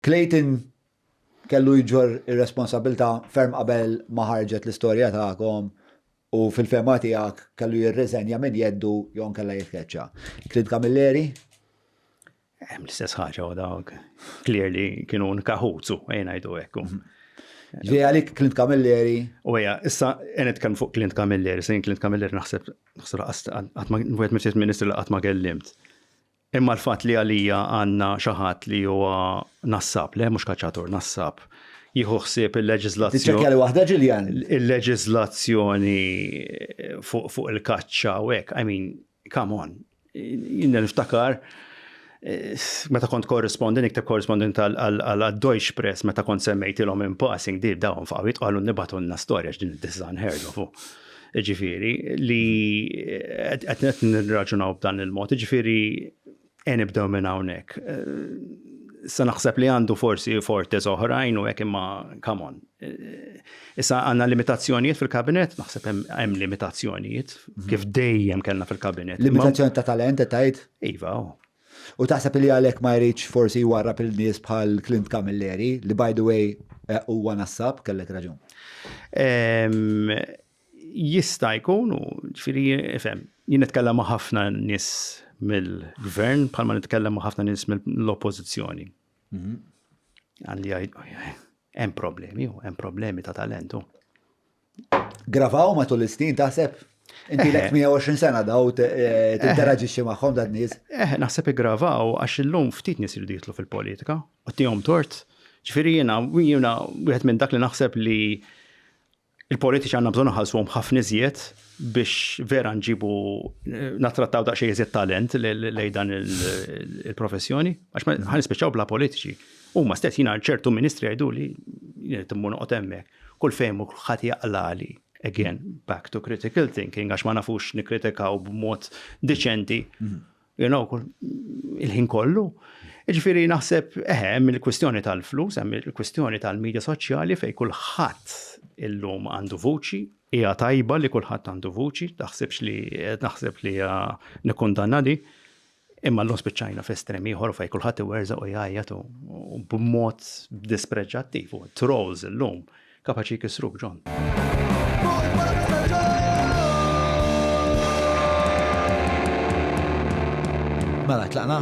Clayton kellu jġorr ir-responsabbiltà ferm qabel ma ħarġet l-istorja tagħkom u fil-fehma tiegħek kellu jirriżenja minn jeddu jew inkella jitkeċċa. Clint Camilleri? Hemm l-istess ħaġa u dawk clearly kienu nkaħutu, ejn ngħidu hekk. Ġej għalik Clint Camilleri. U hija, issa qed kemm fuq Clint Camilleri, sejn Clint Camilleri naħseb naħseb qatt ma wieħed mill-Ministri li qatt ma kellimt. Imma l-fatt li għalija għandna xi ħadd li huwa nassab, le mhux kaċċatur, nassab, jieħu ħsieb il-leġiżlazzjoni. Tiċċekkja li waħda Ġiljan. Il-leġiżlazzjoni fuq il-kaċċa u hekk, I mean, come on. Jien niftakar meta kont korresponden, ikteb korresponden għal Deutsche Press meta kont semmejtilhom in passing di dawn faqwit qalu nibatunna storja x'din id-design herdofu. Ġifieri li qed nirraġunaw b'dan il-mod, ġifieri e nibdew minn hawnhekk. Sa naħseb li għandu forsi fortes oħrajn u hekk imma come on. Issa għandna limitazzjonijiet fil-kabinet, naħseb hemm limitazzjonijiet mhm. kif dejjem kellna fil-kabinet. Limitazzjoni ta' talent qed tgħid? Iva, oh. U taħseb li għalhekk ma jridx forsi jwarrab il-nies bħal Clint Camilleri, li by the way eh, huwa nassab, kellek raġun. Ehm, jista' jkun u ġifieri ifhem, jien nitkellem ma' ħafna nies mill-gvern bħalma nitkellem ma' ħafna nies mill-oppożizzjoni. Mhm. Għandi hemm problemi, hemm problemi ta' talentu. Gravaw matul is-snin taħseb? Inti lek 120 sena daw tinteraġixxi magħhom dan nies. Eh, naħseb iggravaw għax illum ftit nies iridu jitlu fil-politika u tihom tort. Ġifieri jiena jiena wieħed minn dak li naħseb li il-politiċi għandna bżonn ħalsuhom ħafna iżjed biex vera nġibu eh, nattrattaw daqsxejn iżjed talent lejn dan il-professjoni, għax ħan nispiċċaw bla politiċi. Huma stess jiena ċertu ministri jgħidu li timmur noqgħod hemmhekk. Kull fejn mur kulħadd jaqlagħli. Again, back to critical thinking, għax ma nafux nikkritikaw b'mod deċenti. Mhm you know, il-ħin kollu. Ġifiri naħseb, eħe, eh, mill kwistjoni tal-flus, hemm il-kwistjoni tal-medja soċjali fej kulħadd illum għandu vuċi, hija tajba li kulħadd għandu vuċi, taħsibx li naħseb li hija nikkundanna di. Imma llum spiċċajna f'estrem ieħor fejn kulħadd iwerżaq u jgħajjat u b'mod dispreġġattiv u trolls illum kapaċi jkissruk John. Mela, tlaqna?